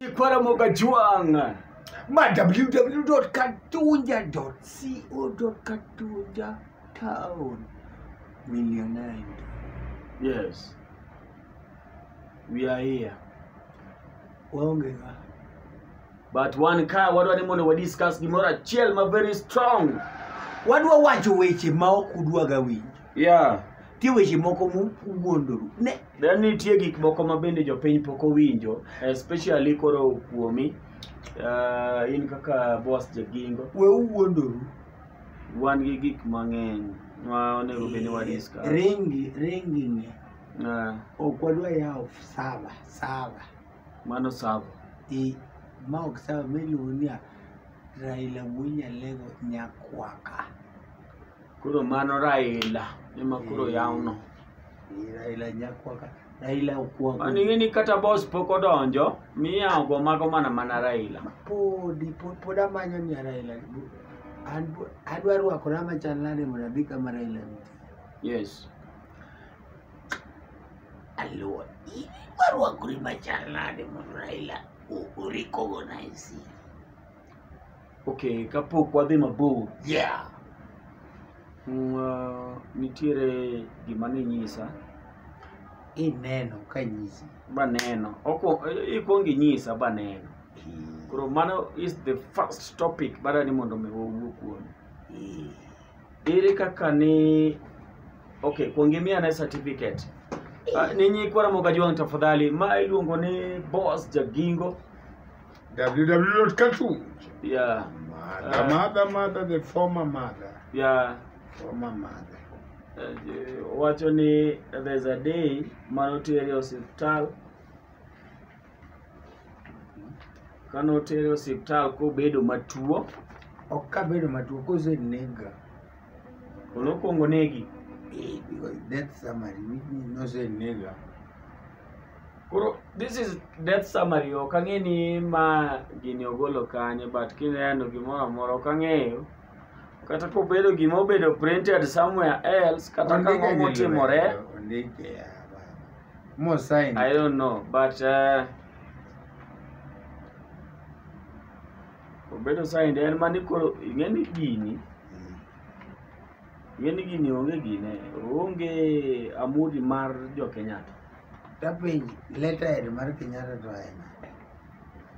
Ikwara Mogajwang. Ma www.katunja.co.katunja town. Millionaire. Yes. We are here. Waonge ga. But one car wadwa ni mondo wa discuss gimoro achiel ma very strong. Wadwa wacho weche ma ok udwaga winjo. Yeah. Tie weche moko mu- muwuondoru. Ne Then nitie gik moko ma bende jopiny pok owinjo, especially koro kuomi. Uh, in kaka boss Jagingo, we uwuondoru wan gi gik mang'eny ma onego bed ni wadiscuss. ringi ringi ni Uh, ok wadwa yawo sava sava mano sawa. i ma ok sava miluongo ni Raila Wuonyalego nyakwaka Koro mano Raila ema koro yawno. Ni Raila nyakwa ka. Raila okuongo. An ing'e ni kata boss pok odonjo, miya ogo mago mana mana Raila. Podi pod pod amanyo ni Raila. An pod- adwa rwakora machal nade mondo adhi kama Raila nitie. Yes. Aluwa. Idwa rwakori machal nade mondo Raila o- orikogo na e siri. Okay, kapok wadhi mabor. Yeah. Mm, uh, nitiere gima ninyisa. Ineno ka nyisi. Baneno. Oko ikwong inyisa baneno. Eh. Koro mano is the first topic bara ni mondo mi wawuo kuom. Eh. Ere kaka ni okay, kwong imiya ne certificate. Uh, ninyi kwa Ramoga Juang tafadhali, ma iluongo ni Boss Jagingo. www.katu yeah mother Ah. mother mother the former mother yeah former mother Eh, wacho ni there's a day manotere osiptal kanotere osiptal kobedo matuo ok kabedo matuo kosenega Koro okwongo negi. Eh, because death summary which means no say nega. Koro this is death summary ok ang'e ni ma gini ogolo kanye but kineno gimoro amora ok ang'eyo kata kobedo gima obedo printed somewhere else kata ka ng'o motimore Ondike ya baba. Mo sign. I don't know but uh, obedo saint en mani koro ing'e ni gini ing'e ni gini onge gine onge amudi mar jo kenyatta Tapiny letterhead mar Kenyatta to en.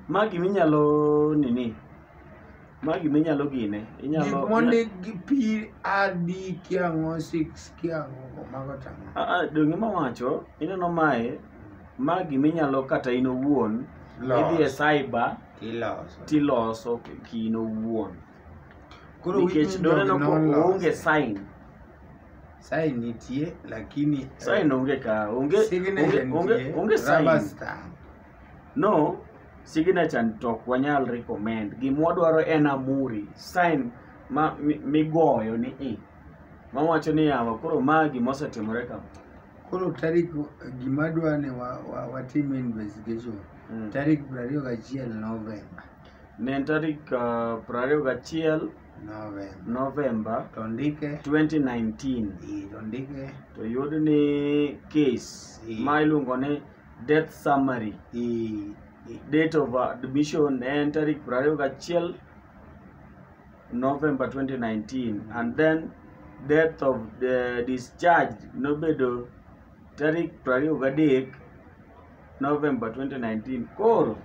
ma gima inyalo nini ma gima inyalo gine Gik inyalo mondik gi P A D kiang'o 6 kiang'o mago tang'o. Ah, ah, donge mawacho ineno mae ma gima inyalo kata in owuon idhi e Los. cyber Iloso. tiloso kino wuon Koro nikech witness doneno dog ko noloso. onge sign Sign nitie lakini sign onge ka onge signature onge- onge nitie, onge rubber sign stamp. no signature to ok wanyal recommend gima wadwaro en amuri sign ma mi- migoyo ni i mawacho ni yawa koro ma gima osetimore kama Koro tarik gima dwa ni wa- wa- watim investigation Mm. tarik piero ariyo gachiel novemba Ne en tarik ah, piero ariyo gachiel novemba Novemba to ndike 2019 i to ndike to yud ni case Mm. ma iluongo ni death summary i i- date of admission ne en tarik piero ariyo gachiel November 2019 and then death of the discharge nobedo tarik 23 November 2019. Koro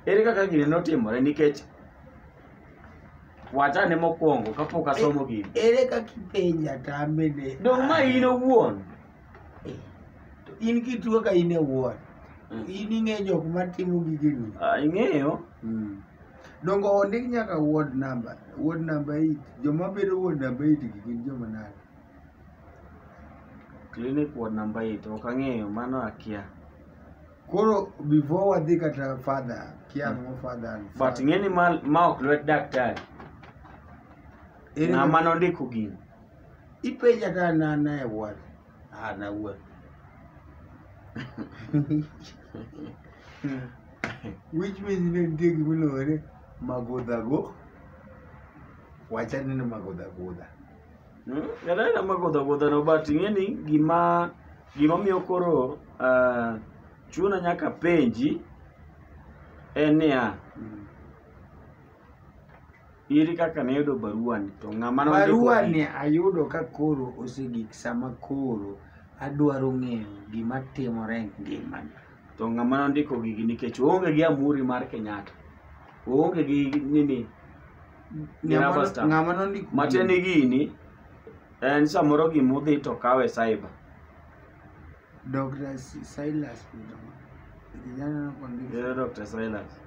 ere kaka gini notimore nikech wachane mokwongo kapok asomo gini. Ere kaka ipenja to amene. Dong ma in owuon. Eh, to in kituo ka in owuon. Mm. In ing'e jok ma timo gigeni. Ah, ing'eyo. Mm. Dongo ondik nyaka ward number. Ward number 8. Joma bedo ward number 8 gin joma nade? clinic ward number 8 ok ang'eyo mano akia koro before wadhi kata father kia ang'o father and but father. ng'eni ma, ma ok lwet daktari Ere ng'ama kaka- nondiko gini ipenja ka na na e ward ah na wuon which means ne nitie gima iluongo ni magodhago wachane ni magodhagodha Mm, ng'ato anena magodho agodhano but ing'e ni gima gimomiyo koro ah, chuna nyaka penji en niya iri kaka nayudo baruani to ng'ama nondiko barua gi- ni ayudo ka koro osegik sama koro adwaro ng'eyo gima timore e ngimana to ng'ama nondiko gigi nikech oonge gi amuri mar kenyatta oonge gi nini Ng'ama- Ng'ama star. ng'ama nondiko matiende gini en samoro gima udhi to kawe cyber Dr. Si- Silas Mudoma. Kijana anakuandika. Yeye Dr. Silas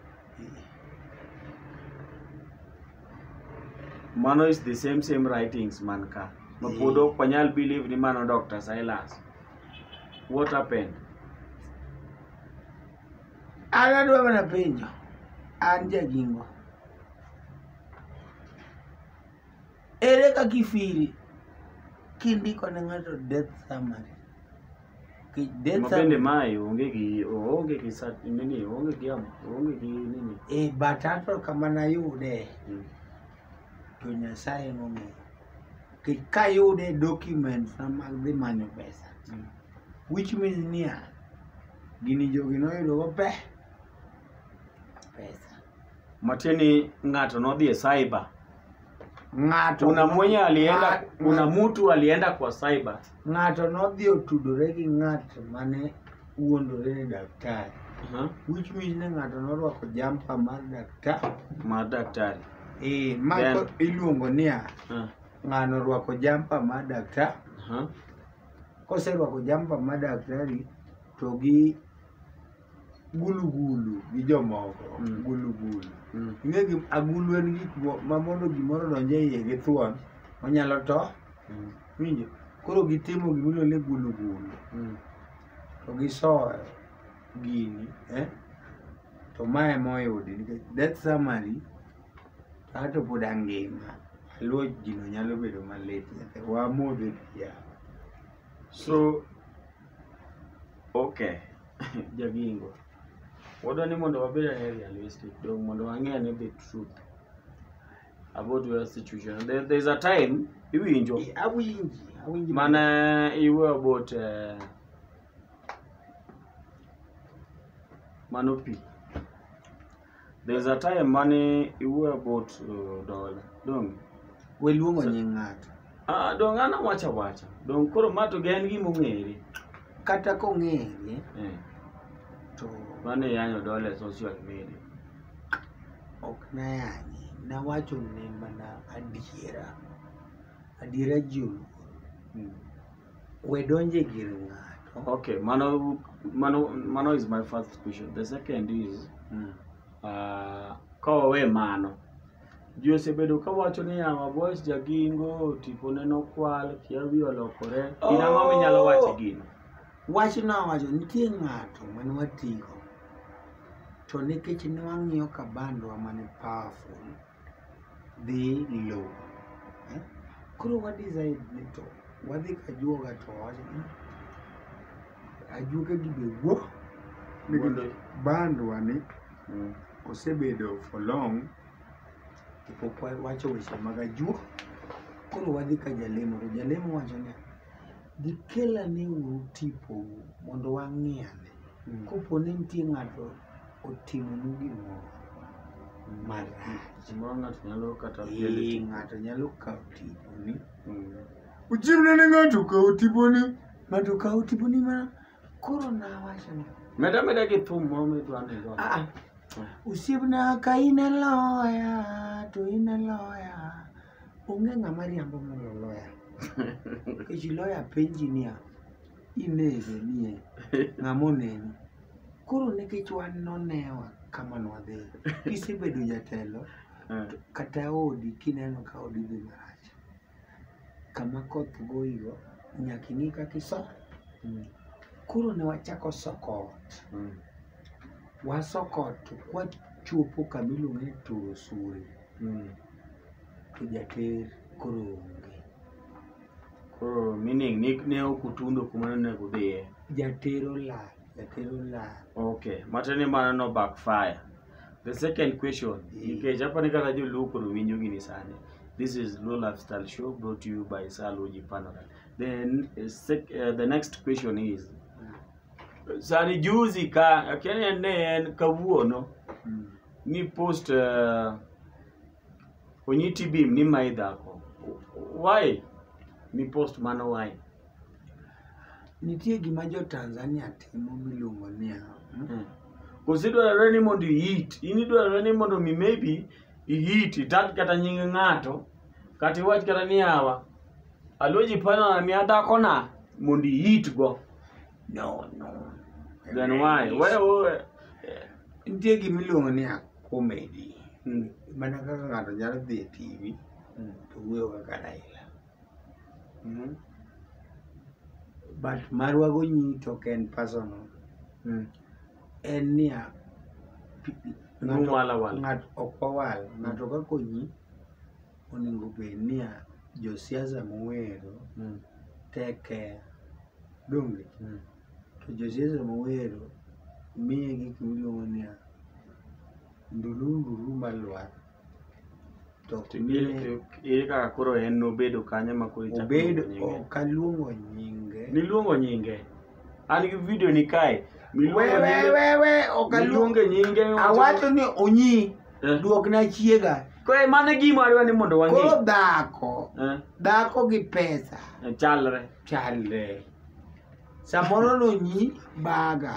mano is the same same writings man ka ma Eh. pod ok wanyal believe ni mano Dr. Silas what happened An adwa mana penjo, an jagingo. Ere kaka ifili kindiko ne ng'ato death summary? Ki- Death Ma bende summary. mae onge gi oonge gi sa nini oonge gi am oonge gi nini. Eh, but ato kama nayude Mm. to Nyasaye nong'eyo. Nikech kayude documents na mag dhi manyo pesa. Mm. which means niya gini jogi noyudo maber pesa matiende ni ng'ato nodhi e cyber ng'ato kuna mwenye alienda ng'a- kuna ng'a- mtu alienda kwa cyber ng'ato nodhi otudore gi ng'at mane wuondore ni daktari Aha, which means ni ng'ato norwako jampa mar daktari ma daktari ee ma Then- ko- iluongo niya Ah, ng'ano orwako jampa mar daktari aha. koserwako jampa ma daktari to gi gulugulu gi jomoko Mm. gulugulu Mm. ing'e gi agulu en gik mo- ma mondo gimoro donje iye gi thuon onyalo to Mm. winjo koro gitimo gimiluongo ni gulugulu Mm. to gisoyo gini eh? to ma ema oyudi nikech death summary An to pod angima. Luo jino nyalo bedo malit nyathi. Wamodhe pi yawa. So, okay, Jagingo. Wadwa ni mondo wabed ane realistic, dong mondo wang'e ane the truth about your situation. There, there's a time iwinjo Eh, Awinji, awinji. mane iwe about eh, mano pi There's a time mane iwuoyo about uh, dola. Dong. We luongo nying ng'ato. Ah, dong an awacha wacha. Dong koro ma to gen gima ong'ere. Kata kong'ere Eh. to Mane yanyo dola e social media. ok nayanye. Nawacho ne mana adiera. Adiera ji oluor. Mm. we donje gir ng'ato Okay, mano, mano, mano is my first question. The second is, Mm. uh, ka wawe mano, ji osebedo ka wacho ni Yama Boys jagingo, tipone nokwal, kia wi olokore. In ang'o minyalo Oh. wacho gino? wach nowacho nitie ng'ato mane watigo to nikech ne wang'iyo kabandwa mane powerful dhi low eh? koro wa decide ni to wadhi kajuoga to wawacho ni ajuoga gi be wuo ni Wuo ni- bandwa ni Mm. osebedo for long to pok wa- wacho weche mag ajuo koro wadhi ka jalemo to jalemo wacho ni gikelane uru tipou mondo wang'iane Mm. kopo ni nitie ng'ato otimonu gimoro marach Gimoro ng'ato nyalo kata Ee, piele. ng'ato nyalo kawo tiponi Mm. uchimne ne ng'ato kawo tiponi ng'ato kawo tiponi ma koro nawacho ni Meda meda gi thum moro midwa ni idwa. "Ah, ah, osiepna ka in e loya to in e loya onge ng'ama riambo mondo loya nikech loya penji niya inege nie ng'ama oneni koro nikech wan nonewa kama nwadhi kisebedo jatelo Eh, to kata odi kineno ka odi dhi marach kama koth goyigo nyaka ing'i kaka iso mm, koro ne wachako soko ot mm, wasoko ot to kwachopo kama iluongo ni turo suri mm, to jater koro onge Koro meaning ni ne ok utundo kuma ne onego udhiye. Jatero lal, jatero lal. Okay, mate ni mano no backfire. The second question, mm. nikech hapa ni kata joluo koro winjo gini sani. This is Low Lifestyle Show brought to you by Saloji Panora. Then uh, sec, uh, the next question is mm. sani juzi ka akene ne en kawuono mm. ni post uh, onyiti bim ni mai dhako why mi post mano why nitie gima jo tanzania timo miluongo niya hmm? hmm. kosi dwarore ni mondo iit in idwarore ni mondo mi maybe iit itag kata nying ng'ato kata iwach kata ni awa aluoji panona mi adakona mondo iitgo no no then why where, where? nitie gima iluongo ni komedi Mm. mana kaka ng'ato nyalo dhi e tv Mm. to wuoyo kaka raila Mm. but marwago nyi to ok en personal Mm. en niya pi- No ng'ato- wala wala. ng'ato ok wawal ng'ato ka konyi onego bed niya josiasa mowero Mm. tek care donge Mm. To josiasa mowero miye gik miluongo niya, ndulu ndulu malwar. To ok miye Ere kaka koro en nobedo kanyo ma koro ichako obedo luongo nyinge? ok aluongo nyinge. Niluongo nyinge. An gi video ni kae. We Miluongo we nyinge. we we ok aluongo. Miluonge nyinge. Awacho ni onyi Eh. duokna chiega. Koro mano e gima adwa ni mondo wang'e. Koro dhako, Eh, dhako gi pesa chalre. chalre. samoro nonyi baga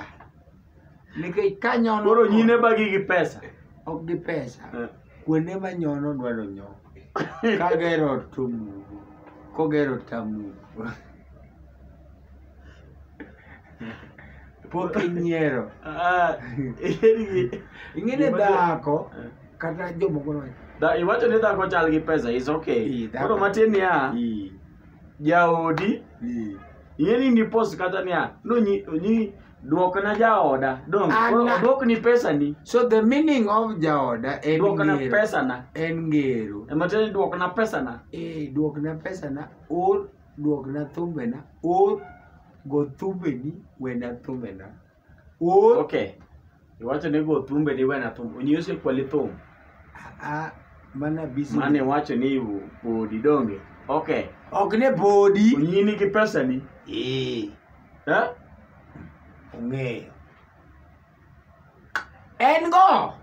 nikech ka nyono koro nyine bagi gi pesa ok gi pesa Eh. kuonde ma nyono dwaro nyo kagero ot to mugo kogero ot tamugo pok inyiero Ah, eri- ing'ene Gima- dhako Eh. kata jomoko no Da- iwacho ni dhako chal gi pesa is okay Ii, dhako. koro matin niya Ii. jaodi Eh. ing'e ni nipos kata niya nonyi onyi duokna jaoda dong Ah, koro na- oduokni pesani So the meaning of jaoda en duokna ngero. pesana En ngero. ematiende ni duokna pesana Eh, duokna pesana, or duokna thumbena, or go thumbeni wena thumbena. Oor. Okay. Iwacho ni go thumbe ni wena thum. Onyose kwali thum. Ah, mana busy. Mane iwacho ni u- podi donge. Okay. Ok ne podi. Onyini gi pesa ni. Eh, Eh? ong'eyo. En go.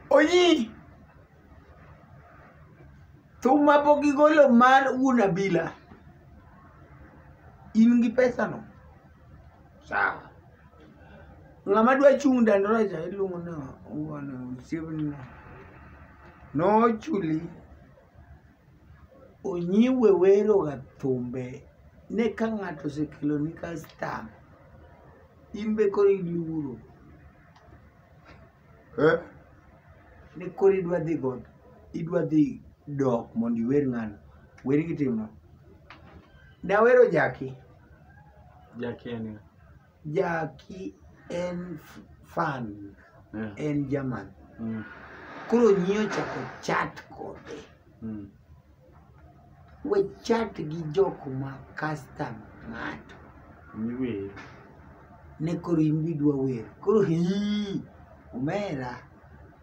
Onyi. thum ma pok igolo mar wuon abila in gi pesano sawa ng'ama dwa chung' dandora cha iluongo ni wuon osiepnino nochuli onyiwe weroga thumbe ne ka ng'ato osekeloni kastam in be koro iluoro Eh? ni koro idwa dhi god idwa dhi dok mondo iwer ng'ano wer gitimno nawero jaki Jackie en ng'a? jaki en f- fan Yeah. en german Mm. koro nyi ochako chat kode Mm. We chat gi jok ma custom ng'ato. Niwer. Ne koro in bi dwa wer. Koro hii. Omera.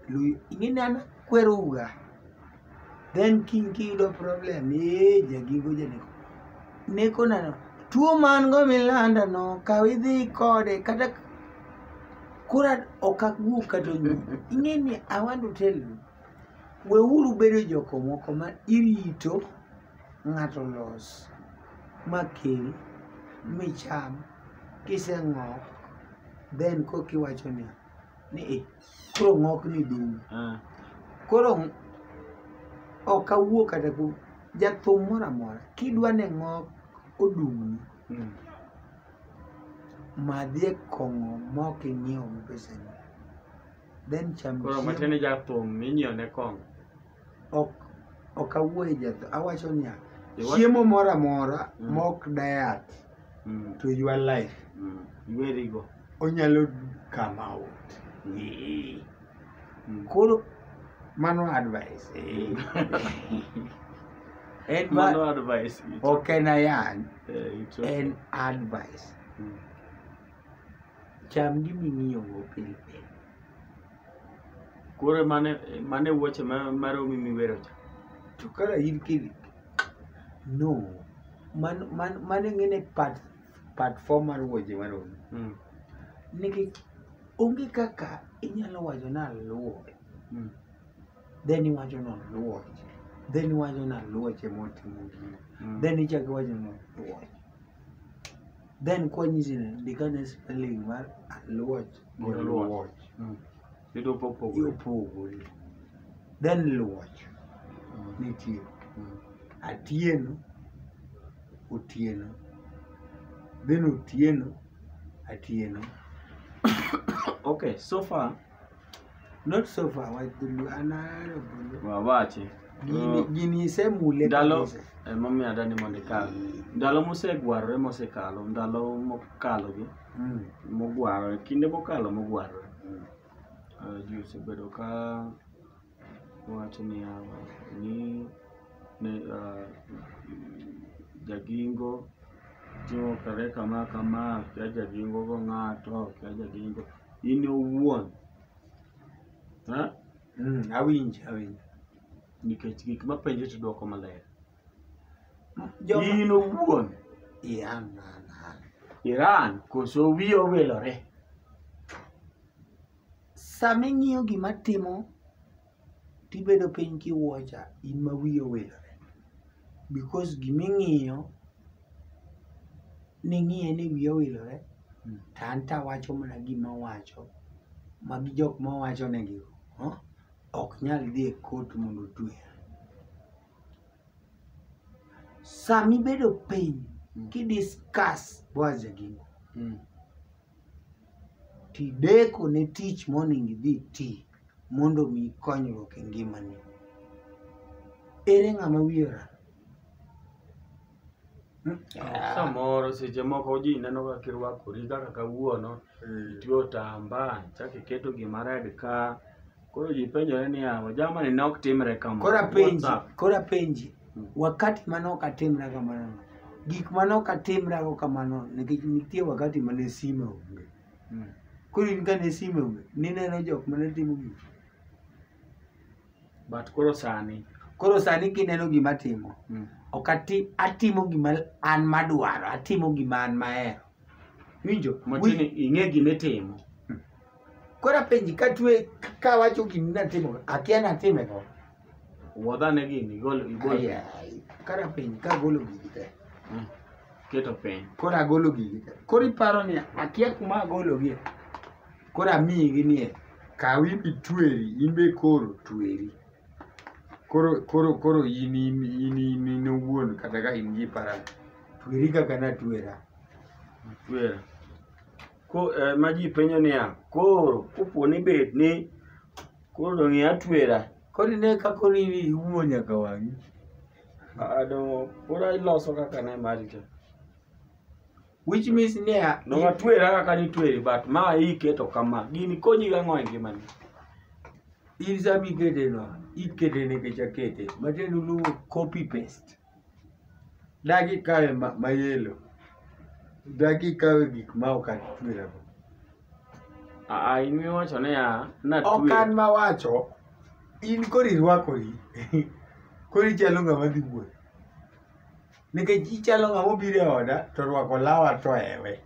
Lui. Ing'e ni an akwero uga. Then king kiyudo problem. Ee, jagigo janeko. Neko nano. Tuo man go milanda no. Kaw idhi kode. Kata kura okak wuok kata onyu. Ing'e ni I want to tell you. weuru bedo joko moko ma irito ng'ato los ma kel micham kiseng'ok then koka iwacho ni ni "Eh, koro ng'ok ni dum Ah. koro ok awuo kata ku jathum moro amora kidwa ni ng'ok odumni Mm. madhie kong'o mok ing'iewo gi pesani then cham Koro chiemo. matiende jathum minyieo ne kong. ok ok awuoye jatho awacho niya Iwa- chiemo moro amora Mm. mok diet Mm, to your life mm. Iwerigo. onyalo come out Ee. Mm. koro mano advice ee. en ma Mano advice. it- ok en ayany eh, it's okay. en advice Mm. Cham gima ing'iyogo pile pile. Koro mane mane wuoche ma maromi miwero cha. To kara in kidi. No. Man man mane ngene part part 4 mar wuoche maromi. Mm. Nikech onge kaka inyalo wacho na luwo. Mm. Then iwacho no luwo. Then iwacho na luwo che motimo gino. Mm. Then ichak iwacho no luwo. then kwanyisi ni ndikane spelling mar aluoch gi Gi luoch. luoch Mm. Yudo popogore. yopogore then luoch nitie Mm. atieno otieno then otieno atieno Okay, so far Not so far, why do you another bulu? wawache Gini, gini se mule ndalo kabisa. emomiyo adani mondo ikal ndalo mosegwarore mosekalo ndalo mokalogi Mm. mogwarore kinde mokalo mogwarore Eh, ji osebedo ka Owacho niya, ni ne ah, jagingo timo kare kama kama, kia jagingo go ng'ato, kia jagingo in owuon. Ha? Mm, awinjo awinjo Nikech gik mapenjo to dwoko maler. Joma- In owuon. Iran an an Iran koso wiye owilore. Sama ing'iyo gima timo tibedo piny kiwuocha in ma wiyi owilore because gima ing'iyo ning'iye ni wiyi owilore Mm. to an to awacho mana gima awacho magi jok ma wacho negi huh? ok nyal dhi e kot mondo otweya sama ibedo piny Mm. kidiskas Boaz Jagingo Mm. tideko ne tich monego idhi ti mondo mi konyruok e ngimani ere ng'ama wiye oral Hmm? Ah. Samoro seche moko ji neno kaka kirwakori kaka kawuono, itiyo otamba, chak iketo gima red ka, Koro ji penjore niya, ojama ni ne ok timre kamano. Koro What's apenji, up? koro apenji, Mm. wakati mane ok atimra kamano, gik mane ok atimrago kamano, nikech nitie wakati mane sime onge. Mm. Koro in kane sime onge, nineno jok mane timo gik. But koro sani. Koro sani kineno gima atimo, Mm. ok ati, atimo gima an madwaro, atimo gima an mahero. Winjo? Machini ing'e gima itimo. Kora penji ka tue ka wacho gini natimo akia natime go. Wuodha ne gini igol igol. Aya, Kara penji ka golo gigi te. Mm. Keto piny. Kora golo gigi te. Kora iparo ni akia kuma agolo gi. Kora amiyi gi nie. Kawi bi tweri, in be koro tweri. Koro koro koro in in in in in owuon kata ka in gi para. Tweri kaka natwera. Twera. Ko, eh, ma ji penjo niya koro kopo ni bed ni koro dong' ia twera Koro ine ka koro in iwuo nyaka wang'i. Ah, dong' koro iloso kaka ne mari cha Which means niya, dong' atwera kaka nitweri but ma iketo kama gini konyi gang'o e ngimani in sama ikete no, ikete nikech akete. Matiende uluongo copy paste. Dagi kawe ma, ma yelo. Dagi kawe gik ma ok atwerago. Aa, in miwacho niya, natwe. Ok an ma wacho, in koro irwakori. koro ichalo ng'ama dhi wuoth. Nikech ichalo ng'ama obiro e oda to orwako lawa to ewe.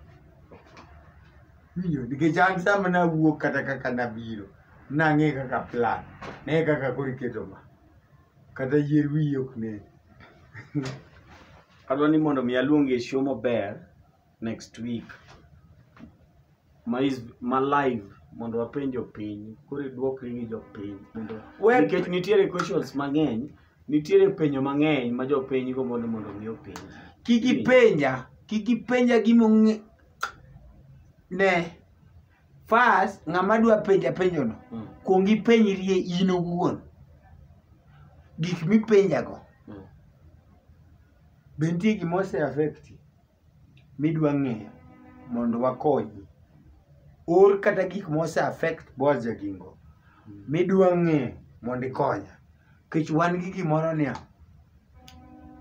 Winjo, nikech an sama nawuok kata kaka nabiro, nang'e kaka plan, ne kaka koro iketo ma. kata yier wiyi ok nen adwa ni mondo mi aluongi e show maber next week ma is ma live mondo wapenjo piny koro idwokri gi jopiny mondo We- nikech nitiere questions mang'eny nitiere penjo mang'eny ma jopiny go mondo mondo mi openj kik ipenja kik ipenja gimong'e ne First, ng'ama dwa penja penjono, Mm. kuong ipenjrie in owuon. Gik mipenjago, Mm. be nitie gima ose affect midwa ng'eyo mondo wakonyi? Or kata gik ma ose affect Boaz Jagingo midwa ng'eyo mondo ikonya. Nikech wan gi gimoro niya,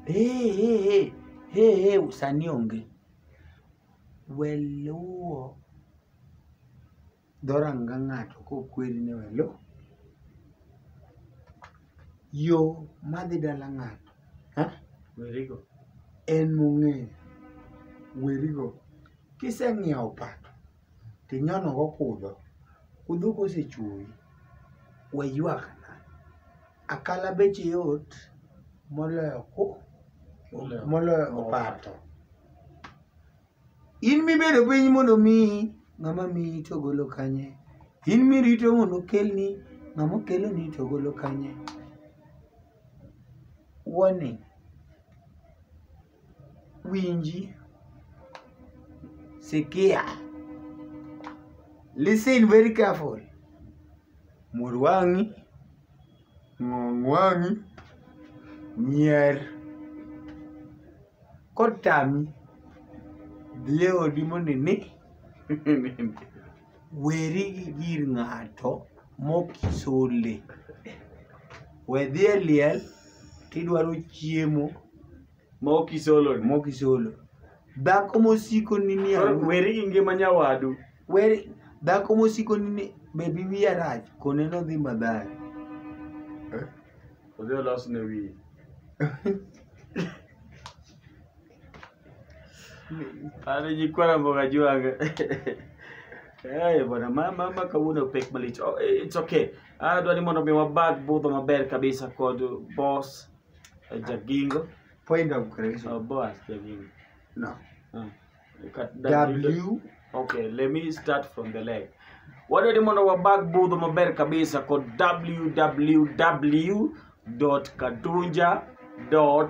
hey, hey, hey, hey, hey, sani onge. we luwo dhoranga ng'ato kokweri ni we luw yo madhi dala ng'ato ha? Werigo. en mong'eyo werigo kiseng'iewo pato tinyonogo kudho kudho kosechuoyi we ywakna Akala beche yot moloyo ku moloyo opato. In mibedo piny mondo miyi ng'ama miyi to golo kanye? In mirito mondo okelni ng'ama okeloni to golo kanye? Warning. winji sikia listen very careful mur wang'i ng'ong' wang'i nyier kotami dhi e odi mondo ine weri gi gir ng'ato mokisole we dhi e liel tidwaro chiemo ma ok isolo ni. mokisolo dhako mosiko ni ni Koro aru- weri gi ngima nyawadu weri dhako mosiko ni ni bebi wiya rach kone nodhi madhari odhi olos ne wiye Alijikuwa na mboga juu anga. Eh, bwana mama mama kawuono pek malich. Oh, eh, it's okay. Ah, dwani mondo mi wabag budho maber kabisa kod boss eh, Jagingo. Point of Oh, correction. boss Jagingo. No. Ah. Kat- W. Okay, let me start from the leg. Wadwani mondo wabag budho maber kabisa kod www.kadunja.com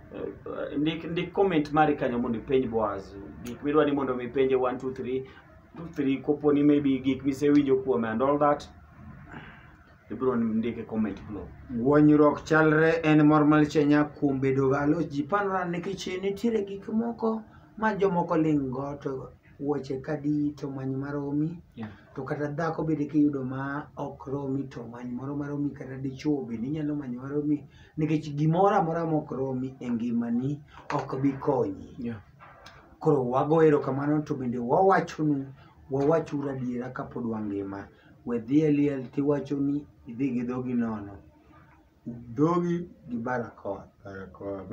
Eh, ndik ndik comment mari kanyo mondo ipenj Boaz gik midwa ni mondo mi penje 1 2 3 2 3 kopo ni maybe gik misewinjo kuome and all that ibiro ndike comment below Guonyruok chalre en mor mar chenya kuom bedo galo ji panora nikech nitiere gik moko ma jomoko ling'go to wuoche kadi to many maromi yeah to kata dhako bende kiyudo ma ok romi to many moro maromi kata dichuo bende inyalo manyo maromi nikech gimoro amora mok romi e ngimani ok bi konyi Yeah. koro wago erokamano to bende wawachonu wawachuru adiera kapod wangima we dhi e liel tiwacho ni idhi gi dhogi nono dhogi gi barakoa Barakoa.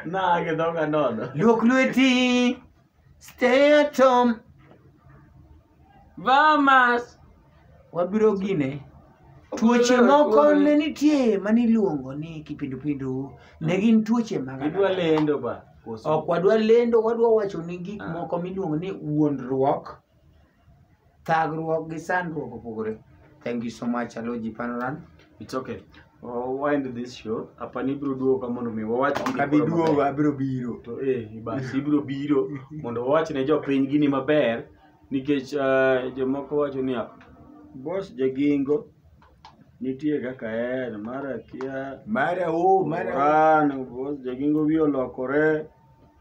Nage dhoga nono. luok lweti Stay at home. Vamas. Wabiro gine. Tuoche moko ne nitie mane iluongo ni kipindupindu. Ne gin tuoche mag Idwa lendo ba. Ok wadwa lendo, wadwa wacho ni gik Ah. moko miluongo ni wuondruok thagruok gi sandruok opogore thank you so much aloji panoran it's okay We'll wind this show apa ni biro duogo ka mondo mi wawach gini kabi koro duogo maber. abiro biro to eh bas ibiro biro mondo wawach ne jopiny gini maber nikech eh, jomoko wacho niya bos jagingo nitie kaka en mar akia mara o mara o. Oran, bos jagingo wiye olokore